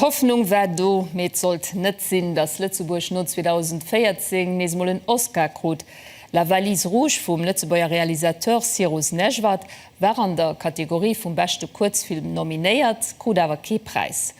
D'Hoffnung war do, mee et sollt net sinn, datt Lëtzebuerg no 2014 nees emol en Oscar krut. La valise rouge vum Lëtzebuerger Realisateur Cyrus Nejvad war an der Kategorie vum beschte Kuerzfilm nominéiert, krut awer kee Präis.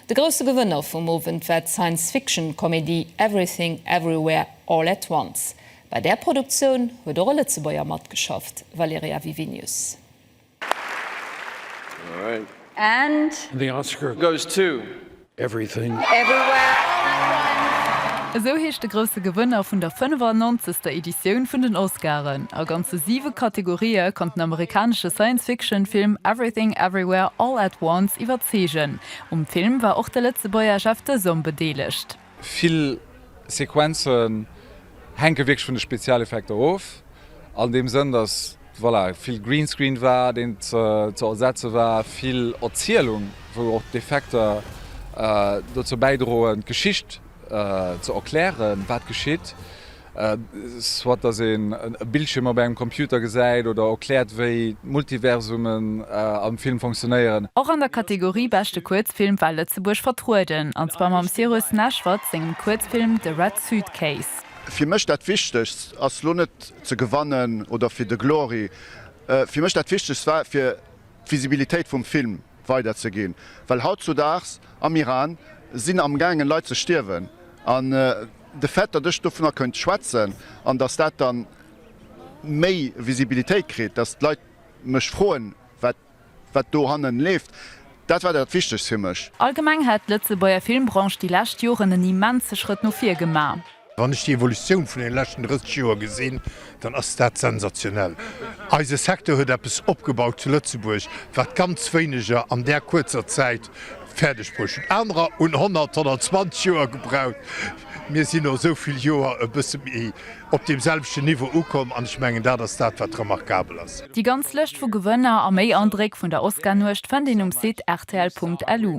De grousse Gewënner vum Owend war d'Science-Fiction-Komedie Everything Everywhere All at Once. Bei där Produktioun huet och e Lëtzebuerger matgeschafft, Valerija Vivinius. Esou heescht de grousse Gewënner vun der 95. Editioun vun den Oscaren. A ganze siwe Kategorië konnt den amerikanesche Science-Fiction-Film Everything Everywhere All at Once iwwerzeegen. Um Film war och de Lëtzebuerger Jeff Desom bedeelegt. Vill Sequenzen hänke wierklech vun de Spezialeffekter of, an deem Sënn, datt, voilà, vill Greenscreen war, deen ze ersetze war, vill Erzielung, wou och d'Effekter dozou bäidroen, d'Geschicht ze erklären, wat geschitt. soit dass een e Bildschirm op engem Computer gesäit oder erkläert wéi d'Multiversumen am Film funktionéieren. Och an der Kategorie Beschte Kuerzfilm war Lëtzebuerg vertrueden, an zwar mam Cyrus Neshvad sengem Kuerzfilm The Red Suitcase. Fir mech dat wichtegst ass lo net ze gewannen oder fir de Glory, fir mech dat wichtegst war fir d'Visibilitéit vum Film. weider ze ginn, well hautzudaags am Iran sinn am gaangen Leit ze stierwen, an de Fait datt ech dovunner kënnt schwätzen, an datt dat dann méi Visibilitéit kritt, datt d'Leit mech froen wat wat do hannen leeft, dat war dat wichtegst fir mech. Allgemeng hätt d'Lëtzebuerger Filmbranche déi lescht Joren en immense Schrëtt no vir gemaach. Wann ech déi Evolutioun vun deene leschten 30 Joer gesinn, dann ass dat sensationell. Eise Secteur huet eppes opgebaut zu Lëtzebuerg, wat ganz wéineger an där kuerzer Zäit fäerdeg bruecht hunn. Anerer hunn 100, 120 Joer gebraucht. Mir sinn no esou vill Joer e bësse méi op deem selwechten Niveau ukomm an ech mengen, dat ass dat, wat remarkabel ass. Déi ganz Lëscht vu Gewënner a méi Andréck vun der Oscar-Nuecht fënnt een um Site rtl.lu.